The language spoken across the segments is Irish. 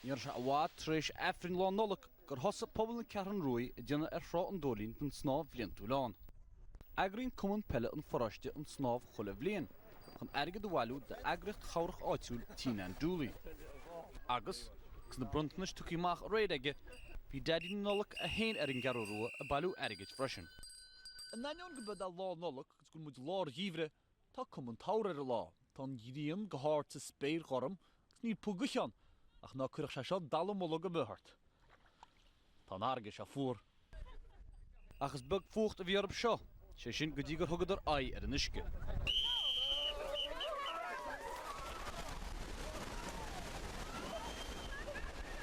Ní raibh sé i bhfad tar éis Aifrinn Lá Nollag gur thosaigh pobal na Ceathrún Rua ag déanamh ar Thrá an Dóilín don snámh bhliantúil ann. Eagraíonn Cumann Peile an Pharóiste an snámh chuile bhliain chun airgead a bhailiú d'eagraíocht chabhrach áitiúil Tigh Nan Dooley agus, agus na bronntanais tugtha amach aréir aige, bhí Daidí na Nollag é féin ar an gCeathrú Rua ag bailiú airgid freisin. In ainneoin gurb é Lá Nollag agus go bhfuil muid i lár an gheimhridh, Tá cuma an tsamhraidh ar an lá. Tá an ghrian go hard sa spéir ghorm agus níl puth gaoithe ann, ach ná cuireadh sé seo dallamullóg ar bith ort. Tá an fharraige seo fuar. Ach is beag fuacht a bhí orthub seo, sé sin go dtí gur thugadar aghaidh ar an uisce.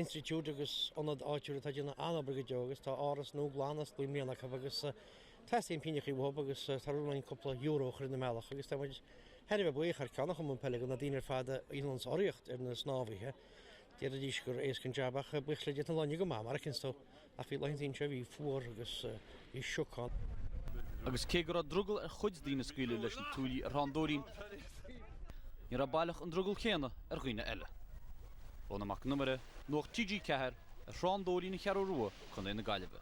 Institiúid agus ionad áitiúil atá ag déanamh an-obair go deo agus tá áras nua glan osclaithe i mbliana acu agus teastaíonn pínneachaí uathub agus tá rún againn cúpla euro a chur ina mbealach agus tá muid thar a bheith buíoch thar ceann an Chumainn Peile de na daoine ar fad a dhéanann urraíocht ar na snámhaithe. Déarfaidís gur éasca an jab ach buíochas le Dia tá an lá inniu go maith mar a Ach bhí laethanta ansin a bhí fuar agus bhí sioc ann. Agus cé go raibh drogall ar chuid daoine scaoileadh leis na tuaillí ar Thrá an Dóilín, ní raibh baileach an drogall céanna ar dhaoine eile. Rónán Mac an Iomaire, Nuacht TG4, ar Thrá an Dóilín, An Cheathrú Rua, Co. na Gaillimhe.